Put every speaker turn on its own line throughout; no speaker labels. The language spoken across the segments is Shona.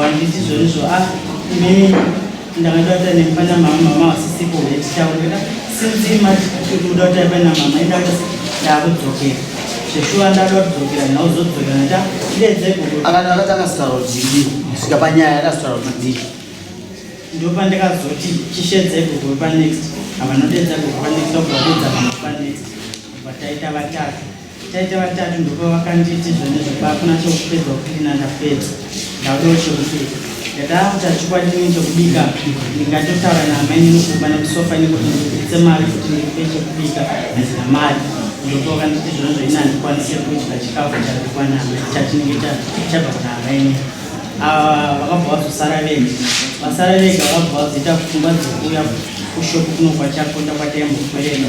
Handiti zvoizvo a ah, inini ndakada kuita nemba namama mama vasisipo vetichaurira since imati kuda kuita imba namama ida kuti ndakudzokera zveshuwa ndada kudzokera ndauzodzokera nda ndedze kuakati akati akasitaura
kuti dii kusvika panyaya yakasitaura kuti dii
ndopandikazoti chishedze gogo panext avanodedza gogo panext akuvaudza mama panext vataita vatatu Taita vatatu ndipo vakanditi zvone zvokuba hakuna chokupedza kuklina ndapedza ndaudawo chokupedza ndakaakuta chikwadini chokubika ndingatotaura naamaini nokuba nekusofa nekuti ndibuditse mari kuti ndikupe chekubika hazina mari ndipo vakanditi zvone zvoina handikwanise kudya chikafu chabikwa naamai chachinenge chabva kuna amaini ava vakabva vazosara vega vasara vega vakabva vazoita pfungwa dzekuuya kushopu kunokwachakunda kwataimbopereka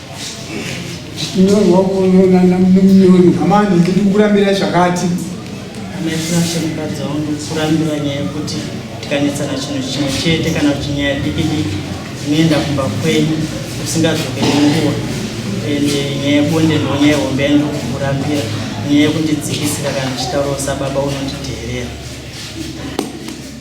amani ndiri kukurambira zvakati
amaitinashanikadziwo ndikurambira nyaya yekuti tikanetsana chinhu chimwe chete kana kuti nyaya diki diki inoenda kumba kwenyu usingazokeri nguva and nyaya yebonde ndo nyaya hombe yaindi kukurambira nyaya yekundidzikisira kana chitauro sababa unonditeerera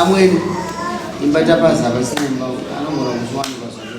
amweni imba tapaza pasina imba anogona kuzviwanikwa zvake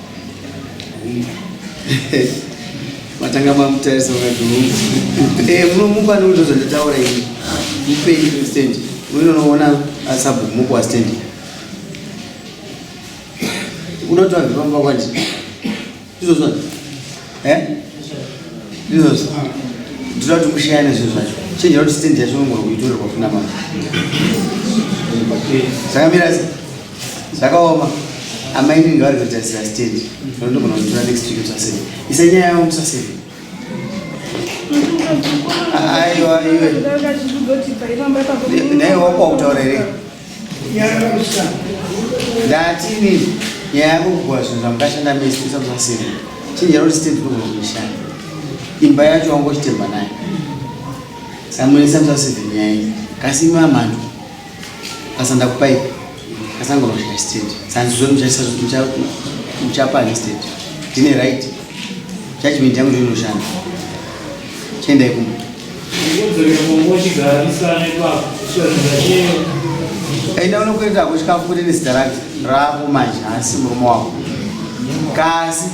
matanga mamutarisa vakati hungu eh, munomupa nokuto zvandataura ini mupei stand unonoona asabhumuko wastand unoti vabve pamba kwandi izvozvo eh? izvozvo ndinoda kuti mushayane zvinhu zvacho chenjera kuti stand yacho unogona kuitorerwa kuna mama zvakamira Zvakaoma. Amai nini vari kutarisira stand. Ndogona kutora next week kusasei. Isa nyaya yavo kusasei. Aiwa iwe. Naye wako wakutaura here? Ndati nini? Nyaya yako kugwa zvinhu zvamukashanda mese isa kusasei. Chinja roti stand ndogona kuishanda. Imba yacho wangochitemba naye. Samuel isa kusasei nyaya iyi. Kasi imwe amhandu. Sasa ndakupa ipi? Sasa ngonoshaya state. Sasa ndizvo muchasa muchapa ni state. Ndine right. Judgment yangu ndiyo inoshanda. Chenda ikumbo. Enda unokuenda kuchikafu kuti nezita rake rako manje asi murume wako. Kasi